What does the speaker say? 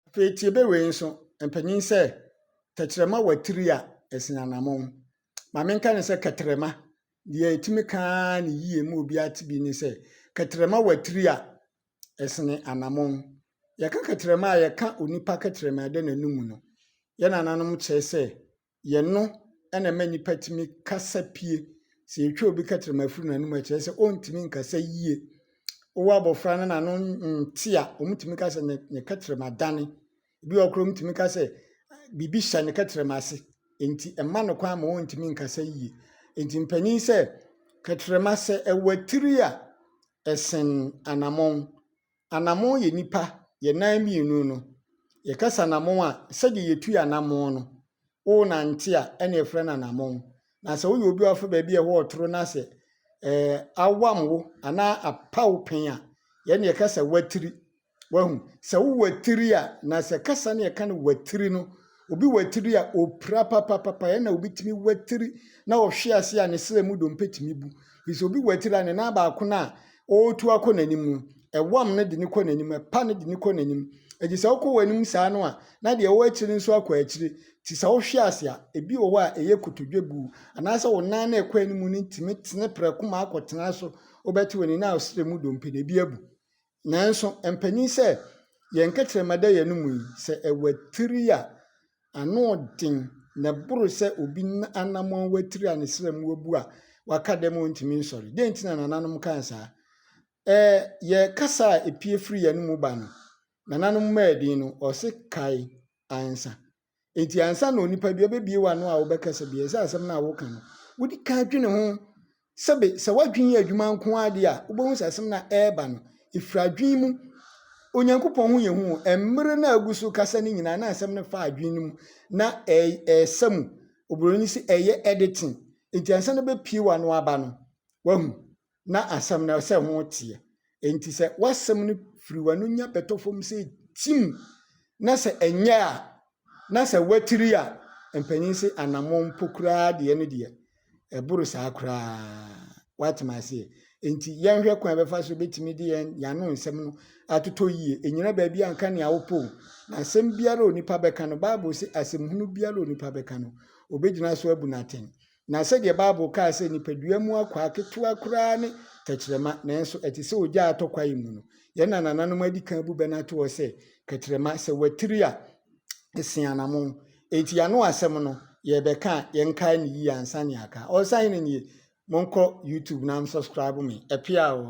Afei tie bɛ wei nso, mpanyin sɛ, Tɛkyerɛma wɔ atiri a ɛsen anammɔn. Ma menka no sɛ kɛtrɛma. Deɛ ɛtumi ka ara ne yie ma obiara te bi ne sɛ, kɛtrɛma wɔ atiri a ɛsen anammɔn. Yɛka kɛtrɛma a, yɛka onipa kɛtrɛma a ɛda n'anum no. Yɛn nananom kyerɛ sɛ, yɛn no na ɛma nnipa tumi kasa pie. Sɛ yɛtwa obi kɛtrɛma firi n'anom a, ɛkyerɛ sɛ ɔntumi nkasa yie. Wowɔ abɔfra no n'ano nte a, wɔtumi ka sɛ ne ne kɛtrɛma adane. Ebi wɔ hɔ koraa a, wɔtumi ka sɛ biribi hyɛ ne kɛtrɛma ase, enti ɛmma no kwan ma ɔntumi nkasa yie. Enti mpanin sɛ, kɛtrɛma sɛ ɛwɔ tiri a, ɛsen anammɔn. Anamon yɛ nipa, yɛ nan mmienu no. Yɛ kasa anamon a, sɛdeɛ yɛ tu yɛ anamon no, wo nante a, ɛna yɛ frɛ no anamon. Na sɛ wo yɛ obi a ɔfɛ baabi a ɛhɔ ɔtoro na sɛ, ɛɛ, awam wo, ana apa wo pen a, yɛ na yɛ kasa watiri. Wahu? Sɛ wo watiri a, na sɛ kasa no yɛ ka no watiri no, Obi wɔ atiri a ɔpira papapapa, yɛn na obi tumi wɔ atiri na ɔhwe ase a ne srɛ mu dompe tumi bu. Ɛfiri sɛ obi wɔ atiri a ne nan baako no a ɔretu akɔ n'anim no, ɛwam no de no kɔ n'anim, ɛpa no de no kɔ n'anim. Ɛgye sɛ wokɔ w'anim saa no a, na deɛ ɛwɔ akyire no nso akɔ akyire. Nti sɛ wohwe ase a, ebi wɔ hɔ a ɛyɛ kotodwe bu, anaasɛ wo nan no a ɛkɔ anim no tumi tene prɛko ma akɔtena so, wobɛte wɔ ne nan a srɛ mu dompe no, ebi abu. Nanso mpanyin sɛ yɛn nkɛtrɛma da yɛn mu yi, sɛ ɛwatiri a, ano den na ɛboro sɛ obi anammɔn watiri a ne srɛ mu abu a waka dɛm a ontumi nsɔre. Dɛn nti na nananom kaa saa? Ɛɛ, yɛ kasa a epue firi yɛn mu ba no, nananom mmaa din no, ɔse kae ansa. Enti ansa na onipa bi abɛbie w'ano a wobɛkasa bi, ɛsɛ asɛm no a woka no, wodi ka dwene ho. Sɛbe sɛ w'adwene yɛ adwuma nko ara deɛ a, wobɛhu sɛ asɛm no a ɛreba no, ɛfiri adwene mu. Onyankopɔn ho yɛ hu o. Mmerɛ no a agu so kasa no nyinaa, na asɛm no fa adwene no mu, na ɛresa mu. Oburoni se ɛyɛ editing. Enti ansa na bɛpie w'ano aba no, wahu. na asɛm no sɛ ho teɛ. Enti sɛ w'asɛm no firi w'ano nya bɛtɔ fam sɛ tim na sɛ ɛnyɛ a na sɛ watiri a, mpanyin se anammɔn mpo koraa deɛ no deɛ ɛboro saa koraa. Woate me aseɛ? Enti yɛnhwɛ kwan bɛfa so bɛtumi de yɛn yɛano nsɛm no atotɔ yie. Ɛnyina baabi a nka nea wopɛ o. Na asɛm biara a onipa bɛka no, Bible se asɛmhunu biara a onipa bɛka no, ɔbɛgyina so abu no atɛn. Na sɛdeɛ Bible kaa sɛ nipadua mu akwaa ketewa koraa ne tɛkyerɛma, nanso ɛte sɛ ogya a atɔ kwaeɛ mu no. Yɛn nanananom adi kan abu bɛ no ato hɔ sɛ, Kɛtrɛma, sɛ watiri a, ɛsen anamon. Enti y'ano asɛm no, yɛrebɛka a, yɛnkae no yie ansa ne aka. Ɔɔsa hene nie, monkɔ YouTube na msubscribe me. Ɛpea oo.